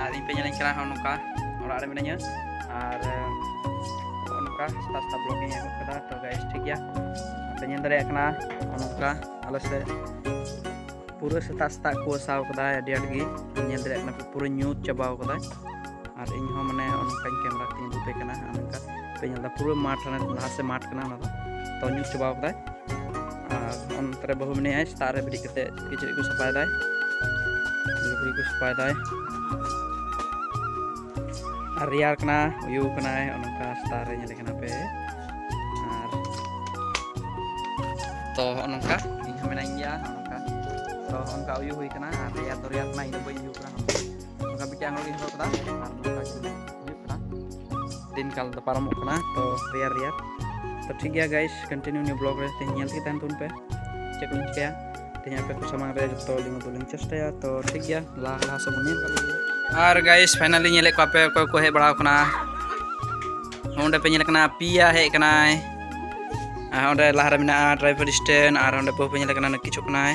ᱟᱨ ᱤᱧ ᱯᱮ ᱧᱮᱞᱤᱧ ᱠᱟᱱᱟ ᱱᱚᱝᱠᱟ ᱚᱲᱟᱜ ᱨᱮ ᱢᱤᱱᱟᱹᱧᱟ ᱟᱨ ᱱᱚᱝᱠᱟ ᱥᱮᱛᱟᱜ ᱥᱮᱛᱟᱜ ᱵᱞᱚᱜ ᱤᱧ ᱮᱦᱚᱵ ᱠᱮᱫᱟ ᱛᱚ ᱜᱟᱭᱤᱥ ᱴᱷᱤᱠ ᱜᱮᱭᱟ ᱯᱮ ᱧᱮᱞ ᱫᱟᱲᱮᱭᱟᱜ ᱠᱟᱱᱟ ᱱᱚᱝᱠᱟ ᱟᱞᱮ ᱥᱮᱫ ᱯᱩᱨᱟᱹ ᱥᱮᱛᱟᱜ ᱥᱮᱛᱟᱜ ᱠᱚ ᱟᱥᱟᱣ ᱠᱟᱫᱟ ᱟᱹᱰᱤ ᱟᱸᱴ ᱜᱮ ᱧᱮᱞ ᱫᱟᱲᱮᱭᱟᱜ ᱠᱟᱱᱟ ᱯᱩᱨᱟᱹ ᱧᱩᱛ ᱪᱟᱵᱟᱣ ᱠᱟᱫᱟ ᱟᱨ ᱤᱧ ᱦᱚᱸ ᱢᱟᱱᱮ ᱚᱱᱠᱟᱧ ᱠᱮᱢᱮᱨᱟ ᱛᱤᱧ ᱩᱫᱩᱜ ᱯᱮ ᱠᱟᱱᱟ ᱱᱚᱝᱠᱟ ᱯᱮ ᱧᱮᱞ ᱫᱟ ᱯᱩᱨᱟᱹ ᱢᱟᱴᱷ ᱞᱟᱦᱟ ᱥᱮᱫ ᱢᱟᱴᱷ ᱠᱟᱱᱟ ᱚᱱᱟ ᱫᱚ ᱛᱚ ᱧᱩᱛ ᱪᱟᱵᱟᱣ ᱠᱟᱫᱟᱭ ᱟᱨ ᱚᱱᱛᱮ ᱨᱮ ᱵᱟᱹᱦᱩ ᱢᱮᱱᱟᱭᱟ ᱥᱮᱛᱟᱜ ᱨᱮ ᱵᱮᱨᱮᱫ ᱠᱟᱛᱮ ᱠᱤᱪᱨᱤᱡ ᱠᱚ ᱥᱟᱯᱷᱟᱭᱮᱫᱟᱭ ᱞᱩᱜᱽᱲᱤ ᱠᱚ ᱥᱟᱯᱷᱟᱭᱮᱫᱟᱭ ᱟᱨ ᱨᱮᱭᱟᱲ ᱠᱟᱱᱟ ᱩᱭᱩ ᱠᱟᱱᱟᱭ ᱚᱱᱠᱟ ᱥᱮᱛᱟᱜ ᱨᱮ ᱧᱮᱞᱮ ᱠᱟᱱᱟ ᱯᱮ ᱟᱨ ᱛᱚ ᱦᱚᱸᱜᱼᱚ ᱱᱚᱝᱠᱟ ᱤᱧ ᱦᱚᱸ ᱢᱮᱱᱟᱧ ᱜᱮᱭᱟ ᱦᱚᱸᱜᱼᱚ ᱱᱚᱝᱠᱟ ᱛᱚ ᱚᱱᱠᱟ ᱩᱭᱩ ᱦᱩᱭ ᱠᱟᱱᱟ ᱟᱨ ᱨᱮᱭᱟᱲ ᱫᱚ ᱨᱮᱭᱟᱲ ᱠᱟᱱᱟ ᱤᱧ ᱫᱚ ᱵᱟᱹᱧ ᱩᱭᱩ ᱠᱟᱱᱟ ᱱᱚᱝᱠᱟ ᱢᱤᱫᱴᱮᱱ ᱟᱸᱜᱚᱲ ᱜᱮᱧ ᱦᱚᱨᱚᱜ ᱠᱟᱫᱟ ᱟᱨ ᱱᱚᱝᱠᱟ ᱜᱮ ᱦᱩᱭᱩᱜ ᱠᱟᱱᱟ ᱫᱤᱱ ᱠᱟᱞ ᱫᱚ ᱯᱟᱨᱚᱢᱚᱜ ᱠᱟᱱᱟ ᱛᱚ ᱨᱮᱭᱟᱲ ᱨᱮᱭᱟᱲ ᱛᱚ ᱴᱷᱤᱠ ᱜᱮᱭᱟ ᱜᱟᱭᱤᱥ ᱠᱚᱱᱴᱤᱱᱤᱭᱩ ᱱᱤᱭᱟᱹ ᱵᱞᱚᱜ ᱨᱮ ᱛᱮᱦᱮᱧ ᱧᱮᱞ ᱛᱮᱜᱮ ᱛᱟᱦᱮᱱ ᱛᱟᱵᱚᱱ ᱯᱮ ᱪᱮᱫ ᱠᱚᱧ ᱪᱤᱠᱟᱹᱭᱟ ᱛᱮᱦᱮᱧ ᱟᱯᱮ ᱠᱚ ᱥᱟᱢᱟᱝ ᱨᱮ ᱡᱚᱛᱚ ᱞᱤᱧ ᱩᱫᱩᱜ ᱞᱤᱧ ᱪᱮᱥᱴᱟᱭᱟ ᱛᱚ ᱴᱷᱤᱠ ᱜᱮᱭᱟ ᱞᱟᱦᱟ ᱞᱟᱦᱟ ᱥᱮᱫ ᱵᱚᱱ ᱧᱮᱞ ᱠᱟᱜ ᱞᱮᱜᱮ ᱟᱨ ᱜᱟᱭᱤᱥ ᱯᱷᱟᱭᱱᱟᱞᱤ ᱧᱮᱞᱮᱫ ᱠᱚᱣᱟ ᱯᱮ ᱚᱠᱚᱭ ᱠᱚ ᱦᱮᱡ ᱵᱟᱲᱟᱣ ᱠᱟᱱᱟ ᱚᱸᱰᱮ ᱯᱮ ᱧᱮᱞ ᱠᱟᱱᱟ ᱯᱤᱭᱟ ᱦᱮᱡ ᱠᱟᱱᱟᱭ ᱟᱨ ᱚᱸᱰᱮ ᱞᱟᱦᱟᱨᱮ ᱢᱮᱱᱟᱜᱼᱟ ᱰᱨᱟᱭᱵᱷᱟᱨ ᱥᱴᱮᱱ ᱟᱨ ᱚᱸᱰᱮ ᱵᱟᱹᱦᱩ ᱯᱮ ᱧᱮᱞ ᱠᱟᱱᱟ ᱠᱤᱪᱷᱩ ᱠᱟᱱᱟᱭ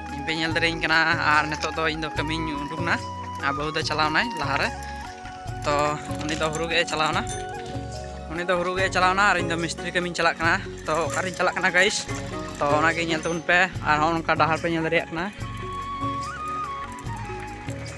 ᱤᱧ ᱯᱮ ᱧᱮᱞ ᱫᱟᱲᱮᱭᱟᱹᱧ ᱠᱟᱱᱟ ᱟᱨ ᱱᱤᱛᱚᱜ ᱫᱚ ᱤᱧ ᱫᱚ ᱠᱟᱹᱢᱤᱧ ᱩᱰᱩᱠ ᱮᱱᱟ ᱟᱨ ᱵᱟᱹᱦᱩ ᱫᱚ ᱪᱟᱞᱟᱣᱱᱟᱭ ᱞᱟᱦᱟᱨᱮ ᱛᱚ ᱩᱱᱤ ᱫᱚ ᱦᱩᱲᱩ ᱜᱮ ᱪᱟᱞᱟᱣᱱᱟ ᱩᱱᱤ ᱫᱚ ᱦᱩᱲᱩ ᱜᱮ ᱪᱟᱞᱟᱣᱱᱟ ᱟᱨ ᱤᱧ ᱫᱚ ᱢᱤᱥᱛᱨᱤ ᱠᱟᱹᱢᱤᱧ ᱪᱟᱞᱟᱜ ᱠᱟᱱᱟ ᱛᱚ ᱚᱠᱟᱨᱤᱧ ᱪᱟᱞᱟᱜ ᱠᱟᱱᱟ ᱜᱟᱭᱤᱥ ᱛᱚ ᱚᱱᱟᱜᱮ ᱧᱮᱞ ᱛᱟᱵᱚᱱ ᱯᱮ ᱟᱨ ᱦᱚᱸ ᱚᱱᱠᱟ ᱰᱟᱦᱟᱨ ᱯᱮ ᱧᱮᱞ ᱫᱟᱲᱮᱭᱟᱜ ᱠᱟᱱᱟ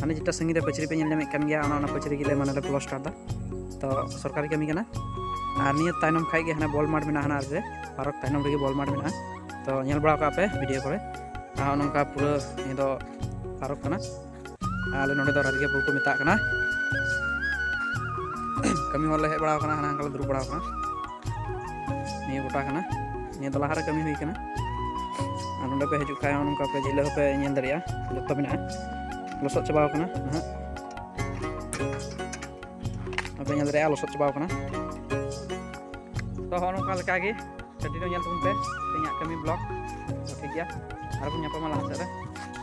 ᱦᱟᱱᱮ ᱡᱮᱴᱟ ᱥᱟᱺᱜᱤᱧ ᱨᱮ ᱯᱟᱹᱪᱨᱤ ᱯᱮ ᱧᱮᱞ ᱧᱟᱢᱮᱫ ᱠᱟᱱ ᱜᱮᱭᱟ ᱚᱱᱟ ᱚᱱᱟ ᱯᱟᱹᱪᱨᱤ ᱜᱮᱞᱮ ᱢᱟᱱᱮ ᱞᱮ ᱯᱞᱟᱥᱴᱟᱨ ᱫᱟ ᱛᱚ ᱥᱚᱨᱠᱟᱨᱤ ᱠᱟᱹᱢᱤ ᱠᱟᱱᱟ ᱟᱨ ᱱᱤᱭᱟᱹ ᱛᱟᱭᱱᱚᱢ ᱠᱷᱟᱡ ᱜᱮ ᱦᱟᱱᱮ ᱵᱚᱞ ᱢᱟᱴ ᱢᱮᱱᱟᱜᱼᱟ ᱦᱟᱱᱟ ᱨᱮ ᱯᱟᱨᱚᱠ ᱛᱟᱭᱱᱚᱢ ᱨᱮᱜᱮ ᱵᱚᱞ ᱢᱟᱴ ᱢᱮᱱᱟᱜᱼᱟ ᱛᱚ ᱧᱮᱞ ᱵᱟᱲᱟ ᱠᱟᱜ ᱯᱮ ᱵᱷᱤᱰᱤᱭᱳ ᱠᱚᱨᱮ ᱟᱨ ᱱᱚᱝᱠᱟ ᱯᱩᱨᱟᱹ ᱱᱤᱭᱟᱹ ᱫᱚ ᱯᱟᱨᱚᱠ ᱠᱟᱱᱟ ᱟᱞᱮ ᱱᱚᱰᱮ ᱫᱚ ᱨᱟᱡᱽᱜᱮ ᱯᱩᱨ ᱠᱚ ᱢᱮᱛᱟᱜ ᱠᱟᱱᱟ ᱠᱟᱹᱢᱤ ᱦᱚᱲ ᱞᱮ ᱦᱮᱡ ᱵᱟᱲᱟᱣ ᱠᱟᱱᱟ ᱦᱟᱱᱟ ᱦᱟᱝᱠᱟ ᱞᱮ ᱫᱩᱲᱩᱵ ᱵᱟᱲᱟᱣ ᱠᱟᱱᱟ ᱱᱤᱭᱟᱹ ᱜᱚᱴᱟ ᱠᱟᱱᱟ ᱱᱤᱭᱟᱹ ᱫᱚ ᱞᱟᱦᱟᱨᱮ ᱠᱟᱹᱢᱤ ᱦᱩᱭ ᱠᱟᱱᱟ ᱟᱨ ᱱᱚᱰᱮ ᱯᱮ ᱦᱤᱡᱩᱜ ᱠᱷᱟᱡ ᱱᱚᱝᱠᱟ ᱯᱮ ᱡᱷᱤᱞᱟᱹ ᱦᱚᱸᱯᱮ ᱧᱮᱞ ᱫᱟᱲᱮᱭᱟᱜᱼᱟ ᱡᱚᱛᱚ ᱢᱮᱱᱟᱜᱼᱟ ᱞᱚᱥᱚᱫ ᱪᱟᱵᱟᱣ ᱠᱟᱱᱟ ᱱᱟᱦᱟᱜ ᱟᱯᱮ ᱧᱮᱞ ᱫᱟᱲᱮᱭᱟᱜᱼᱟ ᱞᱚᱥᱚᱫ ᱪᱟᱵᱟᱣ ᱠᱟᱱᱟ ᱛᱚ ᱦᱚᱸ ᱱᱚᱝᱠᱟ ᱞᱮᱠᱟᱜᱮ ᱠᱟᱹᱴᱤᱡ ᱧᱮᱞ ᱛᱟᱵᱚᱱ ᱯᱮ ᱤᱧᱟᱹᱜ ᱠᱟᱹᱢᱤ ᱵᱞᱚᱜ ᱴᱷᱤᱠ ᱜᱮᱭᱟ ᱟᱨᱵᱚᱱ ᱧᱟᱯᱟᱢᱟ ᱞᱟᱦᱟ ᱥᱮᱫ ᱨᱮ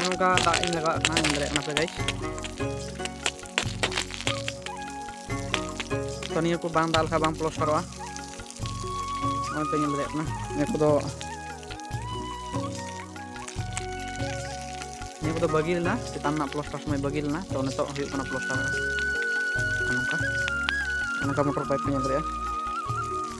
ᱱᱚᱝᱠᱟ ᱫᱟᱜ ᱤᱧ ᱞᱟᱜᱟᱣ ᱠᱟᱱᱟ ᱧᱮᱞ ᱫᱟᱲᱮᱭᱟᱜ ᱠᱟᱱᱟ ᱯᱮ ᱜᱟᱭᱤᱥ ᱛᱚ ᱱᱤᱭᱟᱹ ᱠᱚ ᱵᱟᱝ ᱫᱟᱜ ᱞᱮᱠᱷᱟᱱ ᱵᱟᱝ ᱯᱞᱚᱥᱴᱟᱨᱚᱜᱼᱟ ᱱᱚᱜᱼᱚᱭ ᱯᱮ ᱧᱮᱞ ᱫᱟᱲᱮᱭᱟᱜ ᱠᱟᱱᱟ ᱱᱤᱭᱟᱹ ᱠᱚᱫᱚ ᱱᱤᱭᱟᱹ ᱠᱚᱫᱚ ᱵᱟᱹᱜᱤ ᱞᱮᱱᱟ ᱪᱮᱛᱟᱱ ᱨᱮᱱᱟᱜ ᱯᱞᱚᱥᱴᱟᱨ ᱥᱚᱢᱚᱭ ᱵᱟᱹᱜᱤ ᱞᱮᱱᱟ ᱛᱚ ᱱᱤᱛᱚᱜ ᱦᱩᱭᱩᱜ ᱠᱟᱱᱟ ᱯᱞᱚᱥᱴᱟᱨ ᱱᱚᱝᱠᱟ ᱱᱚᱝᱠᱟ ᱢᱚᱴᱚᱨ ᱯᱟᱭᱤᱯ ᱯᱮ ᱧᱮᱞ ᱫᱟᱲᱮᱭᱟᱜᱼᱟ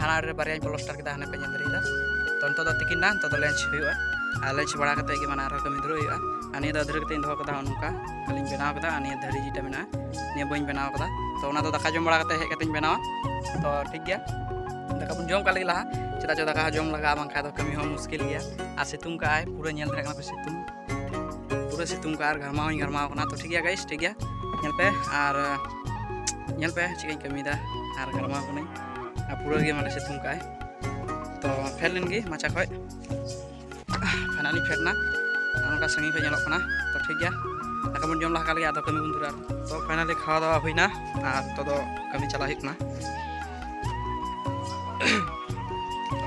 ᱦᱟᱱᱟ ᱨᱮ ᱵᱟᱨᱭᱟᱧ ᱯᱞᱚᱥᱴᱟᱨ ᱠᱮᱫᱟ ᱦᱟᱱᱮ ᱯᱮ ᱧᱮᱞ ᱫᱟᱲᱮᱭᱟᱫᱟ ᱛᱚ ᱱᱤᱛᱚᱜ ᱫᱚ ᱛᱤᱠᱤᱱ ᱱᱟ ᱱᱤᱛᱚᱜ ᱫᱚ ᱞᱮᱸᱪ ᱦᱩᱭᱩᱜᱼᱟ ᱟᱨ ᱞᱮᱸᱪ ᱵᱟᱲᱟ ᱠᱟᱛᱮ ᱜᱮ ᱢᱟᱱᱮ ᱟᱨᱦᱚᱸ ᱠᱟᱹᱢᱤ ᱫᱷᱩᱨᱟᱹᱜ ᱦᱩᱭᱩᱜᱼᱟ ᱟᱨ ᱱᱤᱭᱟᱹ ᱫᱚ ᱟᱹᱫᱷᱨᱟᱹ ᱠᱟᱛᱮᱧ ᱫᱚᱦᱚ ᱠᱟᱫᱟ ᱱᱚᱝᱠᱟ ᱠᱷᱟᱹᱞᱤᱧ ᱵᱮᱱᱟᱣ ᱠᱟᱫᱟ ᱟᱨ ᱱᱤᱭᱟᱹ ᱫᱷᱟᱹᱨᱤ ᱡᱮᱴᱟ ᱢᱮᱱᱟᱜᱼᱟ ᱱᱤᱭᱟᱹ ᱵᱟᱹᱧ ᱵᱮᱱᱟᱣ ᱠᱟᱫᱟ ᱛᱚ ᱚᱱᱟ ᱫᱚ ᱫᱟᱠᱟ ᱡᱚᱢ ᱵᱟᱲᱟ ᱠᱟᱛᱮ ᱦᱮᱡ ᱠᱟᱛᱮᱧ ᱵᱮᱱᱟᱣᱟ ᱛᱚ ᱴᱷᱤᱠ ᱜᱮᱭᱟ ᱫᱟᱠᱟ ᱵᱚᱱ ᱡᱚᱢ ᱠᱟᱜ ᱞᱟᱹᱜᱤᱫ ᱞᱟᱦᱟ ᱪᱮᱫᱟᱜ ᱪᱚ ᱫᱟᱠᱟ ᱡᱚᱢ ᱞᱟᱜᱟᱜᱼᱟ ᱵᱟᱝᱠᱷᱟᱡ ᱫᱚ ᱠᱟᱹᱢᱤ ᱦᱚᱸ ᱢᱩᱥᱠᱤᱞ ᱜᱮᱭᱟ ᱟᱨ ᱥᱤᱛᱩᱝ ᱠᱟᱜ ᱟᱭ ᱯᱩᱨᱟᱹ ᱧᱮᱞ ᱫᱟᱲᱮᱭᱟᱜ ᱠᱟᱱᱟ ᱯᱮ ᱥᱤᱛᱩᱝ ᱯᱩᱨᱟᱹ ᱥᱤᱛᱩᱝ ᱠᱟᱜ ᱟᱨ ᱜᱷᱟᱨᱢᱟᱣ ᱦᱚᱸᱧ ᱜᱷᱟᱨᱢᱟᱣ ᱠᱟᱱᱟ ᱛᱚ ᱴᱷᱤᱠ ᱜᱮᱭᱟ ᱜᱟᱭᱤᱥ ᱴᱷᱤᱠ ᱜᱮᱭᱟ ᱧᱮᱞ ᱯᱮ ᱟᱨ ᱧᱮᱞ ᱯᱮ ᱪᱮᱫ ᱤᱧ ᱠᱟᱹᱢᱤᱭᱮᱫᱟ ᱟᱨ ᱜᱷᱟᱨᱢᱟᱣ ᱠᱟᱹᱱᱟᱹᱧ ᱟᱨ ᱯᱩᱨᱟᱹ ᱜᱮ ᱢᱟᱱᱮ ᱥᱤᱛᱩᱝ ᱠᱟᱜᱼᱟᱭ ᱛᱚ ᱯᱷᱮᱰ ᱞᱮᱱ ᱜᱮ ᱢᱟᱪᱟ ᱠᱷᱚᱡ ᱯᱷᱟᱭᱱᱟᱞᱤ ᱯᱷᱮᱰ ᱮᱱᱟ ᱟᱨ ᱚᱱᱠᱟ ᱥᱟᱺᱜᱤᱧ ᱠᱷᱚᱡ ᱧᱮᱞᱚᱜ ᱠᱟᱱᱟ ᱛᱚ ᱴᱷᱤᱠ ᱜᱮᱭᱟ ᱫᱟᱠᱟ ᱵᱚᱱ ᱡᱚᱢ ᱞᱟᱦᱟ ᱠᱟᱜ ᱞᱮᱜᱮ ᱟᱫᱚ ᱠᱟᱹᱢᱤ ᱵᱚᱱ ᱫᱷᱩᱨᱟᱹᱜᱼᱟ ᱛᱚ ᱯᱷᱟᱭᱱᱟᱞᱤ ᱠᱷᱟᱣᱟ ᱫᱟᱣᱟ ᱦᱩᱭᱱᱟ ᱟᱨ ᱱᱤᱛᱚᱜ ᱫᱚ ᱠᱟᱹᱢᱤ ᱪᱟᱞᱟᱜ ᱦᱩᱭᱩᱜ ᱠᱟᱱᱟ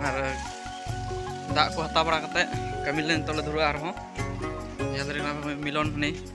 ᱟᱨ ᱫᱟᱜ ᱠᱚ ᱦᱟᱛᱟᱣ ᱵᱟᱲᱟ ᱠᱟᱛᱮᱫ ᱠᱟᱹᱢᱤ ᱞᱮ ᱱᱤᱛᱚᱜ ᱞᱮ ᱫᱷᱩᱨᱟᱹᱜᱼᱟ ᱟᱨᱦᱚᱸ ᱧᱮᱞ ᱫᱟᱲᱮᱭᱟᱜ ᱠᱟᱱᱟ ᱢᱤᱞᱚᱱ ᱦᱟᱹᱱᱤ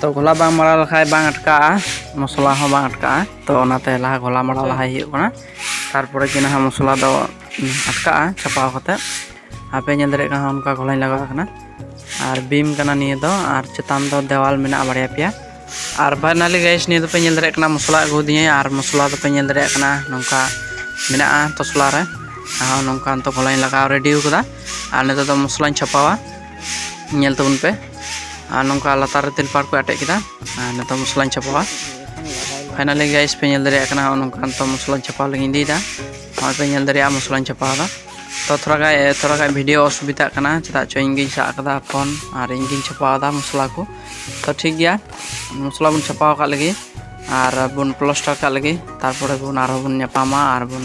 ᱛᱚ ᱜᱷᱚᱞᱟ ᱵᱟᱝ ᱢᱟᱲᱟᱣ ᱞᱮᱠᱷᱟᱡ ᱵᱟᱝ ᱟᱴᱠᱟᱜᱼᱟ ᱢᱚᱥᱞᱟ ᱦᱚᱸ ᱵᱟᱝ ᱟᱴᱠᱟᱜᱼᱟ ᱛᱚ ᱚᱱᱟᱛᱮ ᱞᱟᱦᱟ ᱜᱷᱚᱞᱟ ᱢᱟᱲᱟᱣ ᱞᱟᱦᱟᱭ ᱦᱩᱭᱩᱜ ᱠᱟᱱᱟ ᱛᱟᱨᱯᱚᱨᱮ ᱜᱮ ᱱᱟᱦᱟᱜ ᱢᱚᱥᱞᱟ ᱫᱚ ᱟᱴᱠᱟᱜᱼᱟ ᱪᱷᱟᱯᱟᱣ ᱠᱟᱛᱮ ᱟᱯᱮ ᱧᱮᱞ ᱫᱟᱲᱮᱭᱟᱜ ᱠᱟᱱᱟ ᱚᱱᱠᱟ ᱜᱷᱚᱞᱟᱧ ᱞᱟᱜᱟᱣ ᱠᱟᱱᱟ ᱟᱨ ᱵᱤᱢ ᱠᱟᱱᱟ ᱱᱤᱭᱟᱹ ᱫᱚ ᱟᱨ ᱪᱮᱛᱟᱱ ᱫᱚ ᱫᱮᱣᱟᱞ ᱢᱮᱱᱟᱜᱼᱟ ᱵᱟᱨᱭᱟ ᱯᱮᱭᱟ ᱟᱨ ᱵᱟᱨᱱᱟᱞᱤ ᱜᱟᱭᱤᱥ ᱱᱤᱭᱟᱹ ᱫᱚᱯᱮ ᱧᱮᱞ ᱫᱟᱲᱮᱭᱟᱜ ᱠᱟᱱᱟ ᱢᱚᱥᱞᱟ ᱟᱹᱜᱩ ᱫᱤᱧᱟᱹ ᱟᱨ ᱢᱚᱥᱞᱟ ᱫᱚᱯᱮ ᱧᱮᱞ ᱫᱟᱲᱮᱭᱟᱜ ᱠᱟᱱᱟ ᱱᱚᱝᱠᱟ ᱢᱮᱱᱟᱜᱼᱟ ᱛᱚᱥᱞᱟ ᱨᱮ ᱟᱨ ᱱᱚᱝᱠᱟ ᱱᱤᱛᱚᱜ ᱜᱷᱚᱞᱟᱧ ᱞᱟᱜᱟᱣ ᱨᱮᱰᱤ ᱠᱟᱫᱟ ᱟᱨ ᱱᱤᱛᱚᱜ ᱫᱚ ᱢᱚᱥᱞᱟᱧ ᱪᱷᱟᱯᱟᱣᱟ ᱧᱮᱞ ᱛᱟᱵᱚᱱ ᱯᱮ ᱟᱨ ᱱᱚᱝᱠᱟ ᱞᱟᱛᱟᱨ ᱨᱮ ᱛᱮᱞᱯᱟᱲ ᱠᱚ ᱟᱴᱮᱫ ᱠᱮᱫᱟ ᱟᱨ ᱱᱤᱛᱚᱜ ᱢᱚᱥᱞᱟᱧ ᱪᱷᱟᱯᱟᱣᱟ ᱯᱷᱟᱭᱱᱟᱞᱤ ᱜᱟᱭᱤᱥ ᱯᱮ ᱧᱮᱞ ᱫᱟᱲᱮᱭᱟᱜ ᱠᱟᱱᱟ ᱱᱚᱝᱠᱟ ᱱᱤᱛᱚᱜ ᱢᱚᱥᱞᱟᱧ ᱪᱷᱟᱯᱟᱣ ᱞᱟᱹᱜᱤᱫ ᱤᱫᱤᱭᱮᱫᱟ ᱱᱚᱜᱼᱚᱭ ᱯᱮ ᱧᱮᱞ ᱫᱟᱲᱮᱭᱟᱜᱼᱟ ᱢᱚᱥᱞᱟᱧ ᱪᱷᱟᱯᱟᱣᱫᱟ ᱛᱚ ᱛᱷᱚᱲᱟ ᱜᱟᱱ ᱛᱷᱚᱲᱟ ᱜᱟᱱ ᱵᱷᱤᱰᱤᱭᱳ ᱚᱥᱩᱵᱤᱫᱷᱟᱜ ᱠᱟᱱᱟ ᱪᱮᱫᱟᱜ ᱪᱚ ᱤᱧ ᱜᱤᱧ ᱥᱟᱵ ᱠᱟᱫᱟ ᱯᱷᱳᱱ ᱟᱨ ᱤᱧ ᱜᱤᱧ ᱪᱷᱟᱯᱟᱣᱫᱟ ᱢᱚᱥᱞᱟ ᱠᱚ ᱛᱚ ᱴᱷᱤᱠ ᱜᱮᱭᱟ ᱢᱚᱥᱞᱟ ᱵᱚᱱ ᱪᱷᱟᱯᱟᱣ ᱠᱟᱜ ᱞᱟᱹᱜᱤᱫ ᱟᱨ ᱵᱚᱱ ᱯᱞᱟᱥᱴᱟᱨ ᱠᱟᱜ ᱞᱟᱹᱜᱤᱫ ᱛᱟᱨᱯᱚᱨᱮ ᱵᱚᱱ ᱟᱨᱦᱚᱸ ᱵᱚᱱ ᱧᱟᱯᱟᱢᱟ ᱟᱨ ᱵᱚᱱ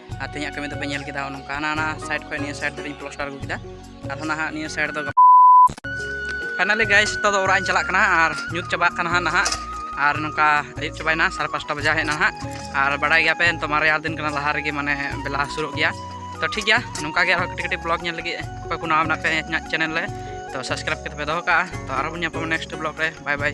ᱟᱨ ᱛᱮᱦᱮᱧᱟᱜ ᱠᱟᱹᱢᱤ ᱫᱚᱯᱮ ᱧᱮᱞ ᱠᱮᱫᱟ ᱱᱚᱝᱠᱟ ᱦᱟᱱᱟ ᱦᱟᱱᱟ ᱥᱟᱭᱤᱰ ᱠᱷᱚᱱ ᱱᱤᱭᱟᱹ ᱥᱟᱭᱤᱰ ᱫᱷᱟᱹᱨᱤᱧ ᱯᱞᱟᱥᱴᱟᱨ ᱟᱹᱜᱩ ᱠᱮᱫᱟ ᱟᱨᱦᱚᱸ ᱱᱟᱦᱟᱜ ᱱᱤᱭᱟᱹ ᱥᱟᱭᱤᱰ ᱫᱚ ᱯᱷᱟᱭᱱᱟᱞᱤ ᱜᱟᱭᱤᱥ ᱱᱤᱛᱚᱜ ᱫᱚ ᱚᱲᱟᱜ ᱤᱧ ᱪᱟᱞᱟᱜ ᱠᱟᱱᱟ ᱟᱨ ᱧᱩᱛ ᱪᱟᱵᱟᱜ ᱠᱟᱱᱟ ᱦᱟᱸᱜ ᱱᱟᱦᱟᱜ ᱟᱨ ᱱᱚᱝᱠᱟ ᱟᱹᱭᱩᱵ ᱪᱟᱵᱟᱭᱮᱱᱟ ᱥᱟᱲᱮ ᱯᱟᱸᱪᱴᱟ ᱵᱟᱡᱟᱣ ᱦᱮᱡ ᱮᱱᱟ ᱦᱟᱸᱜ ᱟᱨ ᱵᱟᱲᱟᱭ ᱜᱮᱭᱟᱯᱮ ᱱᱤᱛᱚᱜ ᱢᱟ ᱨᱮᱭᱟᱲ ᱫᱤᱱ ᱠᱟᱱᱟ ᱞᱟᱦᱟ ᱨᱮᱜᱮ ᱢᱟᱱᱮ ᱵᱮᱞᱟ ᱦᱟᱹᱥᱩᱨᱚᱜ ᱜᱮᱭᱟ ᱛᱚ ᱴᱷᱤᱠ ᱜᱮᱭᱟ ᱱᱚᱝᱠᱟ ᱜᱮ ᱟᱨᱦᱚᱸ ᱠᱟᱹᱴᱤᱡ ᱠᱟᱹᱴᱤᱡ ᱵᱞᱚᱜ ᱧᱮᱞ ᱞᱟᱹᱜᱤᱫ ᱚᱠᱚᱭ ᱠᱚ ᱱᱟᱣᱟ ᱢᱮᱱᱟᱜ ᱯᱮ ᱤᱧᱟᱹᱜ ᱪᱮᱱᱮᱞ ᱨᱮ ᱛᱚ ᱥᱟᱵᱥᱠᱨᱟᱭᱤᱵ ᱠᱟᱛᱮ ᱯᱮ ᱫᱚᱦᱚ ᱠᱟᱜᱼᱟ ᱛᱚ ᱟᱨᱦᱚᱸ ᱵᱚᱱ ᱧᱟᱯᱟᱢᱟ ᱱᱮᱠᱥᱴ ᱵᱞᱚᱜ ᱨᱮ ᱵᱟᱭ ᱵᱟᱭ